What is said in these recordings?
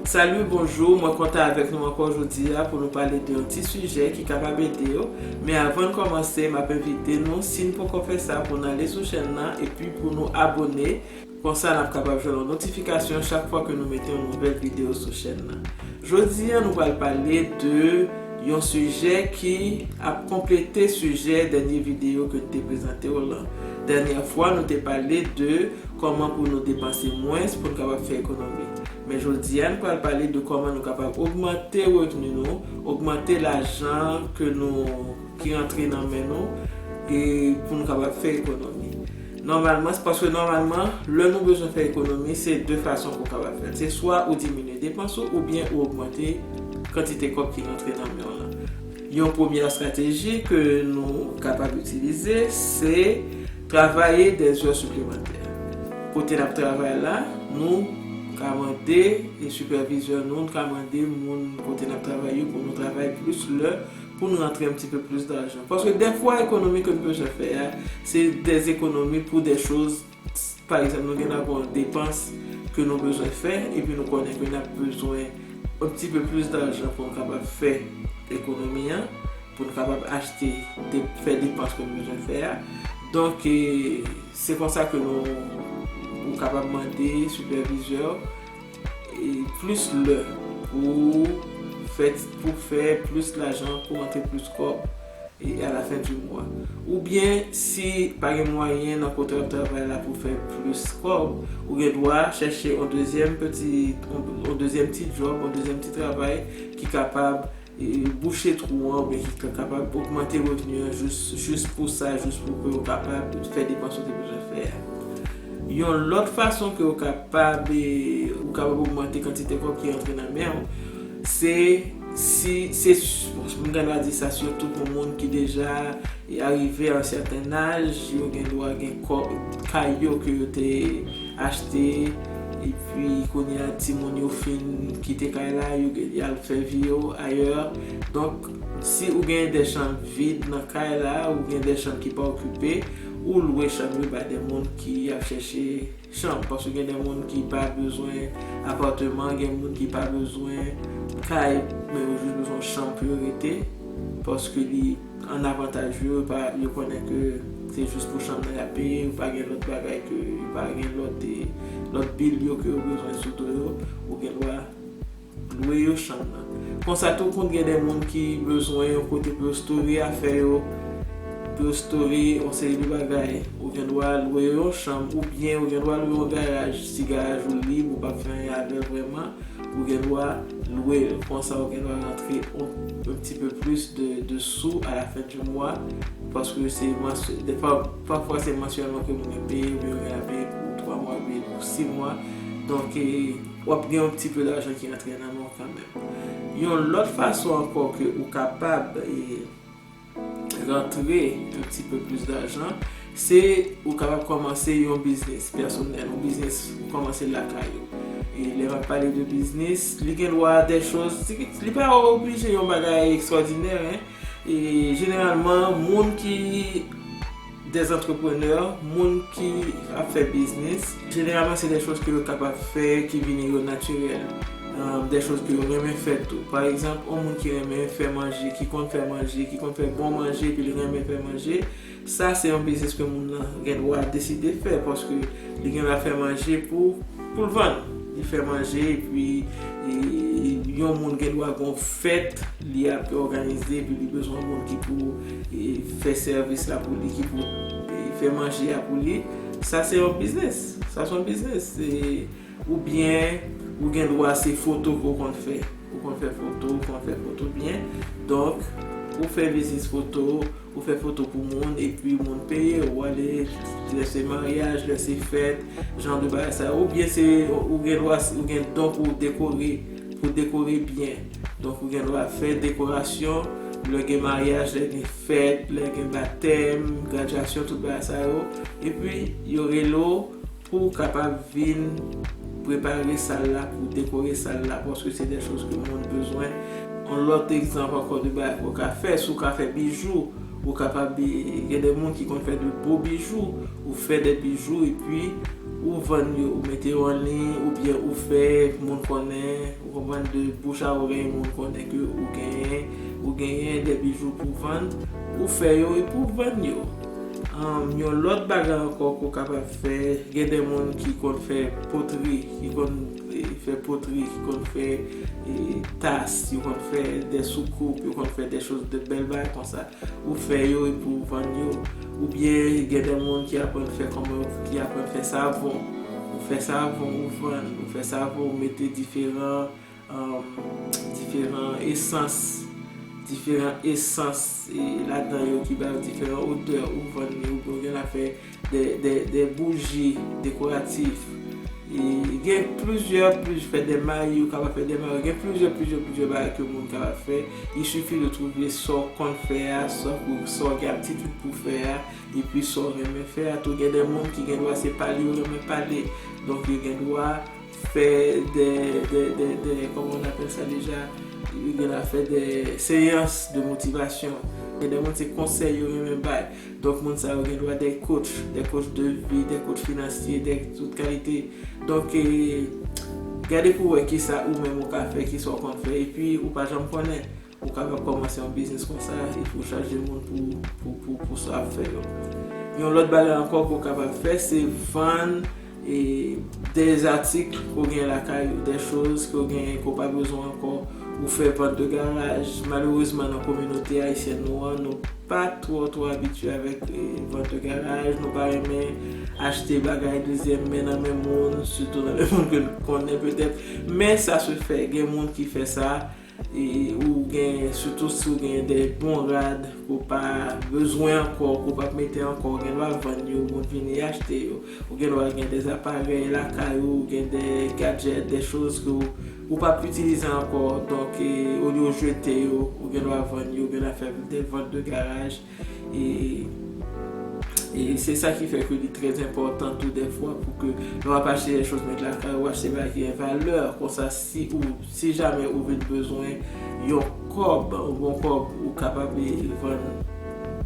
Salut bonjour mwen kontan avèk nou ankò jodia pou nou pale de yon ti sijè ki kapab edew men avann kòmanse map envite nou sin poko fè sa pou nou ale sou chèn nan epi pou nou abone konsa nap kapab jwenn yon notifikasyon chak fwa ke nou mete yon nouvèl video sou chèn nan jodia nou pral pale de yon sijè ki ap konplete sijè dènye video ke nou te prezantew lan dènyè fwa nou te pale de Kòman pou nou depanse mwens pou n kapab fè ekonomi. Men jodi a n pral pale de kòman nou kapab ogmante revni nou, ogmante lajan ke nou ki rantre nan men nou e pou nou kapab fè ekonomi. Nòmalman, se paske nòmalman lè nou bezwen fè ekonomi se de fason pou w kapab fè l. Se swa ou diminye depans ou oubyen ou ogmante kantite kòb ki rantre nan men w lan. Yon premyè estrateji ke nou kapab itilize se. Travaye de zè siplemantè. Kote nap travay la, nou ka mande sipèvizè nou, nou ka mande moun kote nap travay yo pou nou travay plis lè pou n rantre yon ti pe plis dajan. Paske dèfwa ekonomi ke n bezwen fè a, se de ekonomi pou de choz, pa egzanp nou gen nan gon depans ke nou bezwen fè epi nou konnen ke nap bezwen yon ti pe plis dajan pou n kapab fè ekonomi an. pou n kapab achte, fè depans ke nou bezwen fè a. Donk, se konsa ke nou, ou kapab mande sipèvizè w plis lè pou ou fè, pou w fè plis lajan, pou w rantre plis kòb e a la fen di mwa. Ou byen, si pa gen mwayen nan kote w ap travay la pou w fè plis kòb, ou gen dwa chèche yon dezyèm peti, yon dezyèm ti djòb, yon dezyèm ti travay ki kapab bouche twou an oubyen ki kapab ogmante revni an jis pou sa, jis pou ke ou kapab fè depans ou te bezwen fè a. Yon lòt fason ke ou kapab ogmante kantite kòb ki rantre nan men ou, se si, se, m gen dwa di sa sitou pou moun ki deja arive a yon sèten aj, yo gen dwa gen kòb, kay yo ke yo te. achte epi kounye a timoun yo fin kite kay la yo gen y al fè vi yo ayè donk si ou gen de chanm vid nan kay la ou gen de chanm ki pa okipe ou lwe chanm yo bay de moun ki ap chèche chanm paske gen de moun ki pa bezwen apàteman gen moun ki pa bezwen kay men yo jis bezwen yon chanm pou yo rete paske li an avantaj yo epa yo konnen ke se jis pou chanm nan yap peye yo pa gen lòt bagay ke yo pa gen lòt lòt bill yo ke yo bezwen sou do yo ou gen dwa lwe yo chanm nan konsa tou konn gen de moun ki bezwen yon kote pou yo store afè yo pou yo store yon seri de bagay ou gen dwa lwe yo yon chanm oubyen ou gen dwa lwe yon garaj si garaj ou lib ou pap fè anyen avèl vrèman. Ou gen dwa lwe l. Konsa ou gen dwa rantre un petit peu plus de sous à la fin du mois paske se mensuellement, pafwa se mensuellement ke moun yo peye oubyen yo gen la peye pou 3 mwa oubyen pou 6 mwa. Donk wap gen un petit peu d'argent ki rantre nan men w kanmenm. Yon lòt fason ankò ke ou kapab. rantre yon ti pe plis dajan, se ou kapab kòmanse yon biznis pèsonèl, yon biznis ou kòmanse lakay ou. E lè map pale de biznis, li gen dwa dè choz, li pa oblije yon bagay ekstwòdinè, e jeneralman moun ki. Des entrepreneurs, moun ki ap fè biznis, jeneralman se des choses ke yo kapab fè, ki vini yo natirèl. Des choses ke yo renmen fè tou. Pa egzanp, yon moun ki renmen fè manje, ki konn fè manje, ki konn fè bon manje epi li renmen fè manje, sa se yon biznis ke moun nan gen dwa deside fè paske li gen dwa fè manje pou. Pou l vann. Li fè manje epi yon moun gen dwa gen yon fèt li ap òganize epi li bezwen moun ki pou fè sèvis la pou li, ki pou fè manje a pou li. Sa se yon biznis. Sa se yon biznis. Oubyen ou gen dwa se foto ke w konn fè. Ou konn fè foto, ou konn fè foto byen. Donk, ou fè biznis foto. Ou fè foto pou moun epi moun peye ou ale lè se maryaj, lè se fèt, jan de bagay sa yo oubyen se ou gen dwa ou gen don pou w dekore pou w dekore byen donk ou gen dwa fè dekorasyon lè gen maryaj, lè gen fèt, lè gen batèm, gradyasyon tout bagay sa yo epi yo rele w Pou ou kapab vin prepare sal la pou dekore sal la paske se dè choz ke moun bezwen. Yon lòt egzanp ankò de bagay ke w ka fè, si w ka fè bijou, ou kapab gen dè moun ki konn fè de bo bijou, ou fè dè bijou epi ou vann yo, ou mete yo an liy oubyen ou fè moun konnen, ou konprann, de bouch a orèy moun konnen ke ou genyen, ou genyen dè bijou pou vann, ou fè yo epi ou vann yo. Yon lòt bagay ankò ke w kapab fè, gen de moun ki konn fè potri, ki konn fè potri, ki konn fè tas, yo konn fè de soukoup, yo konn fè de choz, de bèl bagay konsa. Ou fè yo epi ou vann yo. Oubyen gen de moun ki aprann fè kòman, ki aprann fè savon. Ou fè savon ou vann, ou fè savon ou mete diferan. Diferan esans, diferan esans ladan yo ki ba yo diferan odè ou vann li oubyen ou gen la fè de bouji dekoratif. Gen plizyè, plizyè fè de mayi, ou kapab fè de mayi, gen plizyè, plizyè, plizyè bagay ke moun kapab fè. Il suffit de trouver sa w konn fè a, sa w gen aptitude pou fè a, epi sa w renmen fè a tou. Gen de moun ki gen dwa se pale yo renmen pale, donk yo gen dwa. fè de, de, de, de, kòman on apèl sa deja, li gen la fè de seyans de motivasyon, gen de moun se konsèy yo renmen bay, donk moun sa yo gen dwa de kotch, de kotch de vi, de kotch finansye, de tout kalite, donk e, gade pou wè kisa ou menm ou ka fè, kisa ou konn fè, epi ou pa janm konnen. Ou kapab kòmanse yon biznis konsa epi ou chaje moun pou sa w ap fè yo. Yon lòt bagay ankò ke w kapab fè se vann de atik ke w gen lakay ou, de choz ke w gen ke w pa bezwen ankò, ou fè vant de garaj. Malerezman nan kominote ayisyèn nou an, nou pa twò twò abitye avèk vant de garaj, nou pa renmen achte bagay dezyèm men nan men moun, sitou nan men moun ke nou konnen petèt, men sa se fè, gen moun ki fè sa. Ou gen sitou si ou gen de bon rad ke w pa bezwen ankò, ke w pa p mete ankò, ou gen dwa vann yo, moun vini achte yo. Ou gen dwa gen de aparèy lakay ou, gen de gadjèt, de choz ke ou pa p itilize ankò, donk olye w jete yo, ou gen dwa vann yo, ou gen dwa fè de vant de garaj. E se sa ki fè ke li trè enpòtan tou dèfwa pou ke lè w ap achte dè choz nèg lakay ou, achte bagay ki gen valè. Konsa si ou, si jamè ou vin bezwen yon kòb, yon bon kòb, ou kapab vann,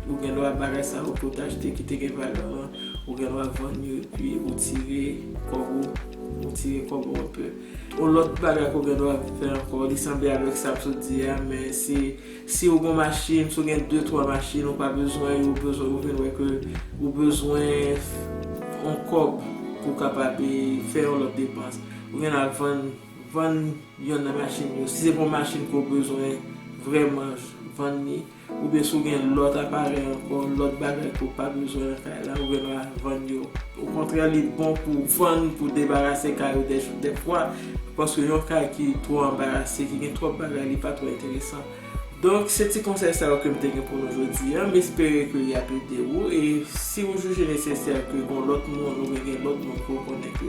ou gen dwa bagay sa yo ke w te achte ki te gen valè an, ou gen dwa vann yo epi ou tire kòb ou, ou tire kòb ou anpe. Yon lòt bagay ke w gen dwa fè ankò, li sanble avèk sa m sot di a, men se Si ou gon machine, si ou gen 2 3 machine ou pa bezwen yo ou bezwen ou vin wè ke ou bezwen yon kòb pou kapab fè yon lòt depans ou gen dwa vann vann yonn nan machine yo si se pa yon machine ke ou bezwen vrèman vann li oubyen si ou gen lòt aparèy ankò lòt bagay ke ou pa bezwen nan kay la ou gen dwa vann yo okontrè li bon pou vann pou debarase kay ou dèfwa. Paske yon kay ki twò anbarase, ki gen twòp bagay li pa twò enteresan. Donk se ti konsèy sa yo ke m te gen pou nou jodi a. M espere ke li ap ede ou. E si ou jije nesesè ke gon lòt moun oubyen gen lòt moun ke w konnen ke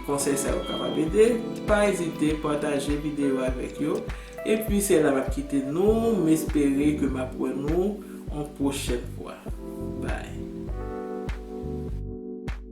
konsèy sa yo kapab ede, pa ezite pataje videyo a avèk yo. E pi se la m ap kite nou. M espere ke m ap wè nou yon pwochèn fwa. Bye!